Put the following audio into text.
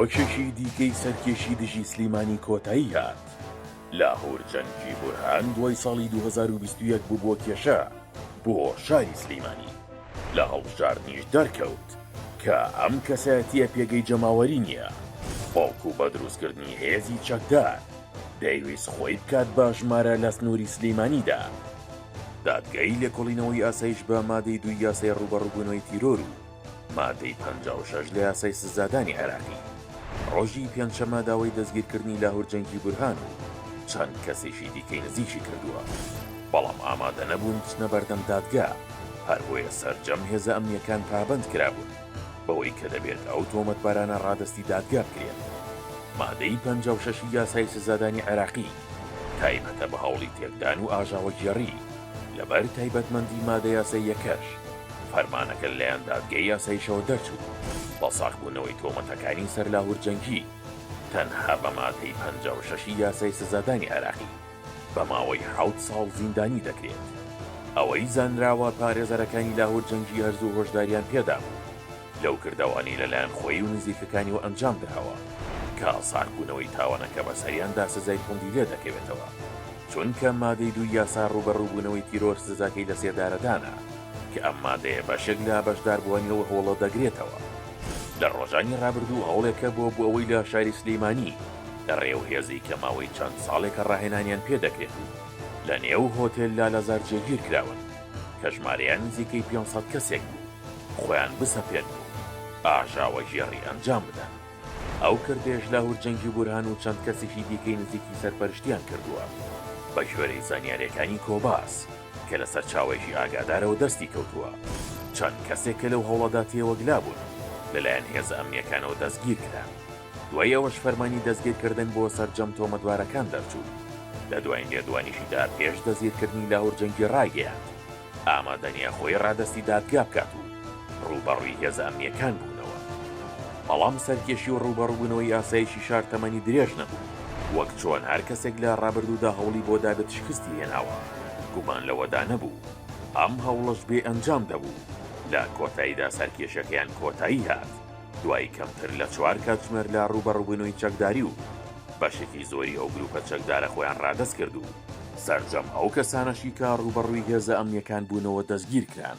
چیرۆکێکی دیکەی سەرکێشی دژی سلیمانی کۆتایی هات، لاهور جەنگی بورهان دوای ساڵی دوو هەزار و بیست و یەک ببووە کێشە بۆ شاری سلیمانی، لە هەڵبژاردنیش دەرکەوت کە ئەم کەسایەتییە پێگەی جەماوەری نییە، بەڵکو بە دروستکردنی هێزی چەکدار دەیویست خۆی بکات بە ژمارە لە سنووری سلیمانیدا. دادگای لێکۆڵینەوەی ئاسایش بە مادەی دووی یاسای ڕووبەڕووبوونەوەی تیرۆر و مادەی پەنجا و شەش لە یاسای سزادانی عێراقی، ڕۆژی پێنجشەممە داوای دەستگیرکردنی لاهور جەنگی بورهان و چەند کەسێکی دیکەی نزیکی کردووە، بەڵام ئامادە نەبوون بچنە بەردەم دادگا، هەربۆیە سەرجەم هێزە ئەمنییەکان پابەند کرابوون بەوەی کە دەبێت ئەو تۆمەتبارانە ڕادەستی دادگا بکرێن. مادەی پەنجا و شەش ی یاسای سزادانی عێراقی تایبەتە بە هەوڵی تێکدان و ئاژاوەگێڕی، لەبەر تایبەتمەندی مادە یاساییەکەش، فەرمانەکە لەلایەن دادگەی یاساییشەوە دەرچوو. بە ساغبوونەوەی تۆمەتەکانی سەر لاهور جەنگی، تەنها بە مادەی پەنجا و شەش ی یاسای سزادانی عێراقی، بە ماوەی حەوت ساڵ زیندانی دەکرێت. ئەوەی زانراوە، پارێزەرەکانی لاهور جەنگی هەرزوو هۆشدارییان پێدابوو. لەو کردەوانەی لەلایەن خۆی و نزیکەکانیەوە ئەنجام دراوە کە ئاسانبوونەوەی تاوانەکە بەسەریاندا سزای توندی لێ دەکەوێتەوە چونکە مادەی دووی یاسا ڕووبەڕووبوونەوەی تیرۆر سزاکەی لەسێدارەدانە کە ئەم مادەیە بەشێک لە بەشداربووانی ئەو هەوڵە دەگرێتەوە. لە ڕۆژانی ڕابردوو هەوڵێکە بۆ بۆ ئەوەی لە شاری سلیمانی لە ڕێ و هێزی کە ماوەی چەند ساڵێکە ڕاهێنانیان پێ دەکرێت و لە نێو هۆتێل لالەزار جێگیر کراون کە ژمارەیان نزیکەی پێنج سەد کەسێک بوو، خۆیان بسەپێنن و ئاژاوەگێڕی ئەنجام بدەن. ئەو کردەیەش لاهور جەنگی بورهان و چەند کەسیشی دیکەی نزیکی سەرپەرشتیان کردووە. بە گوێرەی زانیارییەکانی کۆباس کە لە سەرچاوەیەکی ئاگادارەوە دەستی کەوتووە، چەند کەسێک کە لەو هەوڵەدا تێوەگلا بوون لەلایەن هێزە ئەمنییەکانەوە دەستگیر کران. دوای ئەوەش فەرمانی دەستگیرکردن بۆ سەرجەم تۆمەتبارەکان دەرچوو. لە دوایین لێدوانیشیدا پێش دەستگیرکردنی لاهور جەنگی ڕایگەیاند، ئامادە نییە خۆی ڕادەستی دادگا بکات و ڕووبەڕووی هێزە ئەمنییەکان بوونەوە. بەڵام سەرکێشی و ڕووبەڕووبوونەوەی ئاسایشی شار تەمەنی درێژ نەبوو، وەک چۆن هەر کەسێک لە ڕابردوودا هەوڵی بۆ دابێت شکستی هێناوە، گومان لەوەدا نەبوو ئەم هەوڵەش بێ ئەنجام دەبوو، لە کۆتاییدا سەرکێشیەکەیان کۆتایی هات. دوای کەمتر لە چوار کاتژمێر لە ڕووبەڕووبوونەوەی چەکداری و بەشێکی زۆری ئەو گرووپە چەکدارە خۆیان ڕادەست کرد و سەرجەم ئەو کەسانەشی کە ڕووبەڕووی هێزە ئەمنییەکان بوونەوە دەستگیر کران.